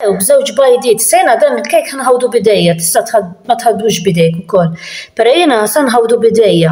Ew b'żewġ bajdiet, sena dan il-kejk ħanħawdu bidejja, tista' ma tħaddux bidejk ukoll. Però jiena sa nħawdu bidejja.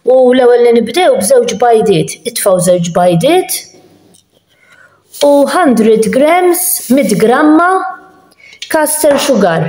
U l-ewwel li nibdew b'żewġ bajdiet, itfgħu żewġ bajdiet u 100 grams, 100 gramma kaster sugar.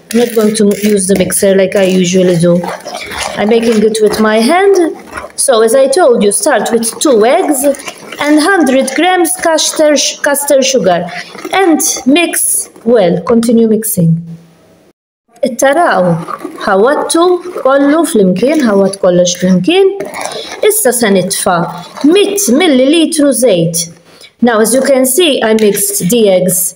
I'm not going to use the mixer like I usually do. I'm making it with my hand. So as I told you, start with two eggs and 100 grams caster, caster sugar and mix well, continue mixing. Ittaraw, ħawattu kollu flimkien, ħawat kollox flimkien. Issa se nitfa 100 millilitru żejt. Now as you can see I mixed the eggs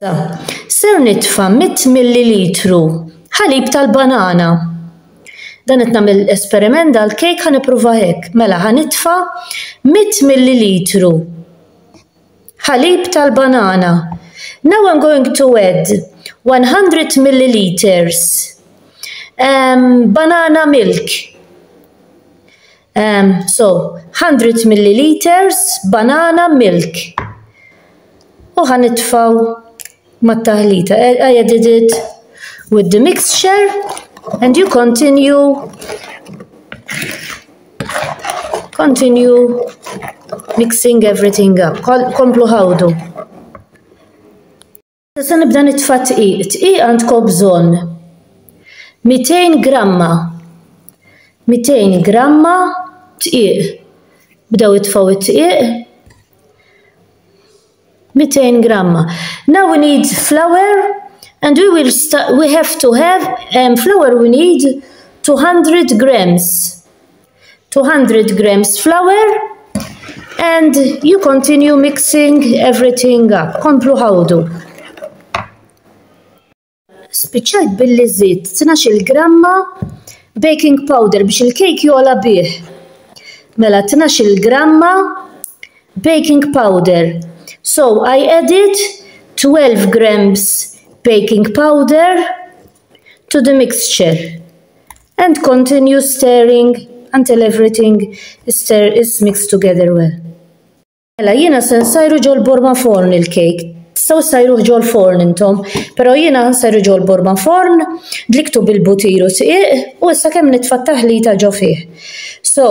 Ser nitfa' mitt millilitru ħalib tal-banana. Dan qed nagħmel esperiment dal-kejk ħa nipprova hekk. Mela ħa nitfa' mitt millilitru ħalib tal-banana. Now I'm going to add 100 milliliters um, banana milk. Um, so, 100 milliliters banana milk. U ħan itfaw mat-taħlita. I, I added it with the mixture and you continue continue mixing everything up. Komplu ħawdu. Se nibda nitfa' tqiq. Tqiq għandkom bżonn 200 gramma. 200 gramma tqiq. Bdew itfgħu t-tqiq. 200 gramma. Now we need flour and we will we have to have um, flour we need 200 grams. 200 grams flour and you continue mixing everything up. Komplu ħawdu. Spiċċajt billi żitt 12 gramma baking powder biex il-kejk jola bih. Mela 12 gramma baking powder. So I added 12 grams baking powder to the mixture and continue stirring until everything is, stir, is mixed together well. Mela jiena se nsajru ġol borma forn il-kejk. Tistgħu sajru ġol forn intom, però jiena nsajru ġol borma forn, dliktu bil-butir u siq u issa kemm nitfa' taħlita ġo fih. So,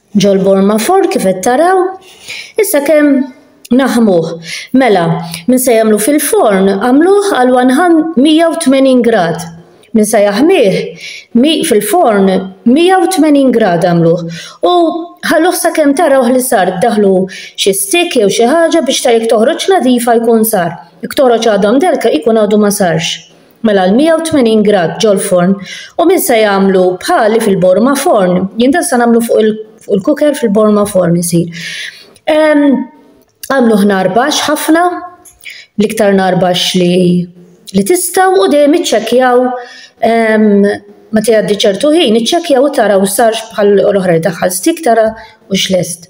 Ġol Borma Ford kif qed taraw. Issa kemm naħmuh. Mela, min se jagħmlu fil-forn għamluh għal 180 grad. Min se jaħmih fil-forn 180 grad għamluh. U ħalluh sakemm tarawh li sar daħlu xi stick jew xi ħaġa biex ta' jekk toħroġ nadifa jkun sar. Jekk toħroġ għadha mdellka jkun għadu ma sarx. Mela l-180 grad ġol-forn u min se jagħmlu bħali fil-borma forn, jien dan se nagħmlu fuq il-kuker fil-borma forn isir. Għamlu ħnarbax ħafna, l-iktar narbax li li tistaw u dejjem iċċekjaw meta jgħaddi ċertu ħin, iċċekjaw u taraw sarx bħal l-oħra daħħal stik tara u xlest.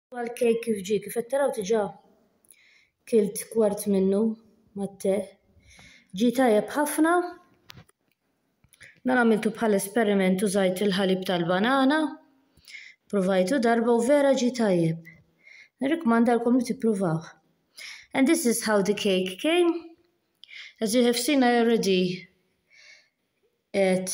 Għal kejk kif ġie, kif qed taraw diġà kilt kwart minnu mat-te. Ġie tajjeb ħafna. Dan għamiltu bħal esperiment użajt il-ħalib tal-banana. Provajtu darba u vera ġie tajjeb. Nirrikmandalkom li tippruvaw. And this is how the cake came. As you have seen, I already ate